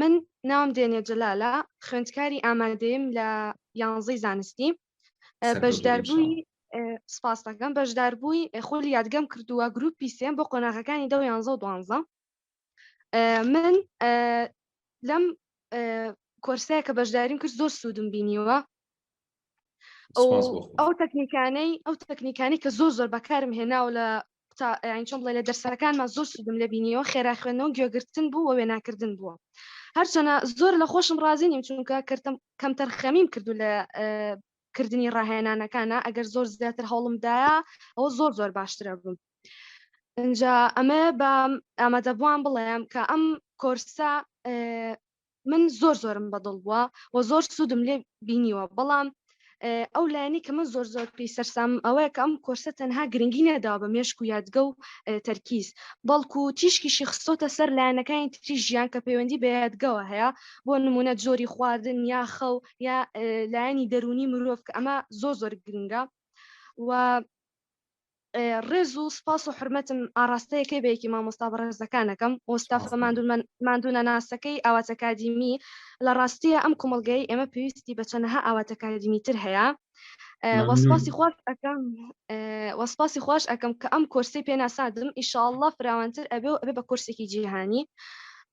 من ناوم دێنێ جەلالە خوێندکاری ئامادەیم لە یانزەی زانستی بەشداربووی سپاس دەکەم بەشداربووی خۆلی یادگەم کردووە گروپی سێم بۆ قۆناغەکانی دە یانزە و دوانزە من لەم کۆرسەیە کە بەشداریم کرد زۆر سوودم بینیوە ئەو تەکنیکانەی ئەو تەکنیکانی کە زۆر زۆر بەکارم هێناو لە چۆن بڵێ لە دەرسەکانمان زۆر سودم لە بینیەوە خێرا خوێنەوە گوێگرتن بوو وە وێناکردن بووە هەرچەنە زۆر لە خۆشم ڕازی نیم چونکە کردم کەم تەرخەمیم کردو لە کردنی ڕاهێنانەکانە ئەگەر زۆر زیاتر هەوڵمدایە ئەوە زۆر زۆر باشترە بووم ئەجا ئەمە بە ئامادەبووان بڵێم کە ئەم کۆرسە من زۆر زۆرم بەدڵ بووە و زۆر سوودم لێ بینیوە بەڵام ئەو لایەنی کە من زۆر زۆر پێی سەرسام ئەوەیە کە ئەم کۆرسە تەنها گرنگی نەداوە بە مێشک و یادگە و تەرکیز بەڵکو و تیشکیشی خستۆتە سەر لایەنەکانی تری ژیان کە پەیوەندی بە یادگەوە هەیە بۆ نمونە جۆری خواردن یا خەو یا لایەنی دەرونی مرۆڤ کە ئەمە زۆر زۆر گرنگە و ڕێز و سپاس و حورمەتم ئاڕاستە یەکەی بە یەکی مامۆستا بەڕێزەکانەکەم و ستافە سپاس ماندوو من ماندوونەناسەکەی ئاوات ئەکادیمی لە ڕاستیە ئەم کۆمەڵگەی ئێمە پێویستی بە چەنەها ئاوات ئەکادیمی تر هەیە ئێ وە ممنون سپاسی خواش ئەکەم ئێ وە سپاسی خواش ئەکەم کە ئەم کۆرسەی پێ ناساندم ئیشاڵڵا فراوانتر ئەبێ و ئەبێ بە کۆرسێکی جیهانی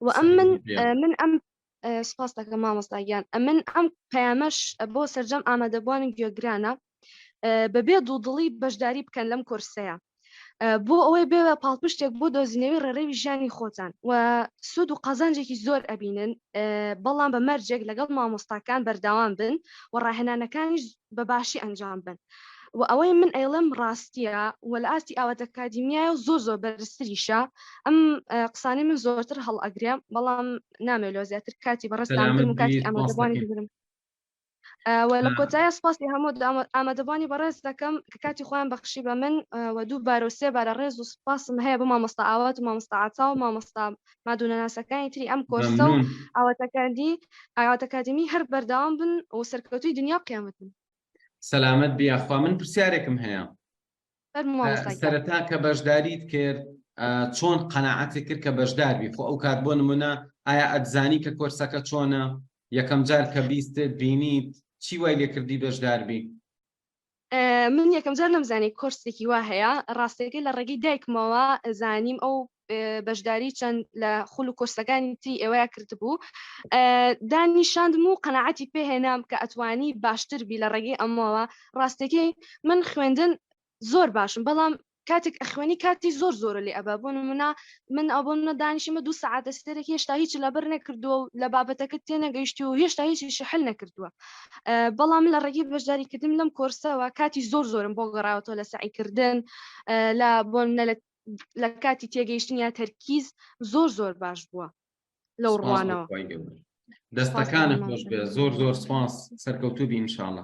و ئەم من سەرکەوتوو بێ ئێ من ئەم سپاس دەکەم مامۆستا گیان ئەمن ئەم پەیامەش بۆ سەرجەم ئامادەبووانی گوێگرانە بەبێ دوودڵی بەشداری بکەن لەم کورسەیە بۆ ئەوەی بێ پاڵپشتێک بۆ دۆزینەوەی ڕێڕێوی ژیانی خۆتان و سوود و قازانجێکی زۆر ئەبینن بەڵام بە مەرجێک لەگەڵ مامۆستاکان بەرداوام بن و ڕاهێنانەکانیش بە باشی ئەنجام بن. و ئەوەی من ئەیڵم ڕاستیە و لە ئاستی ئاوات ئەکادیمیایە و زۆر زۆر بەرزتریشە ئەم قسانی من زۆرتر هەڵئەگرێ بەڵام نامەوێت لۆ زیاتر کاتی بەڕێزتان بگرم و کاتی ئامادەبووانی بگرم و لە کۆتایە سپاسی هەموو ئامادەبووانی بەڕێز دەکەم کە کاتی خۆیان بەخشی بە من و دوو بارە و سێ بارە ڕێز و سپاسم هەیە بۆ مامۆستا ئاوات و مامۆستا عتا و مامۆستا مادونەناسەکانی تری ئەم کۆرسە و ئاواتەکانی ئاواتەکادمی هەر بەردەوام بن و سەرکەوتوی دنیا و قیامەتن سەلامەت بیاخوا من پرسیارێکم هەیە سەرەتا کە بەشداریت کرد چۆن قەنەعەتی کرد کە بەشداربی خۆ ئەو کات بۆ نمونە ئایا ئەتزانی کە کۆرسەکە چۆنە یەکەم جار کە بیست بینیت چی وای لێکردی بەشداربی من یەکەم جار نەمزانی کۆرسێکی وا هەیە ڕاستەکەی لە ڕێگەی دایکمەوە زانیم ئەو بەشداری چەند لە خول و کۆرسەکانی تری ئێوەیە کردبوو دانی شاندم و قەنەعەتی پێهێنام کە ئەتوانی باشتر بی لە ڕێگەی ئەمەوە ڕاستەکەی من خوێندن زۆر باشم بەڵام کاتێک ئەخوێنی کاتی زۆر زۆر لێ ئەبا بۆ نمونە من ئەو بۆ منە دانیشمە دوو سعاتە سێرە هێشتا هیچ لەبەر نەکردووە و لە بابەتەکە تێنەگەیشتی و هێشتا هیچ شحل نەکردووە بەڵام لە ڕێگەی بەشداریکردن لەم کۆرسەوە کاتی زۆر زۆرم بۆ گەڕاوەوە لە سعیکردن لە بۆ منە لە لە کاتی تێگەیشتن یا تەرکیز زۆر زۆر باش بووە لەو ڕوانەوە دەستەکانە خۆش بێ زۆر زۆر سپاس سەرکەوتوو بی انشاءاللە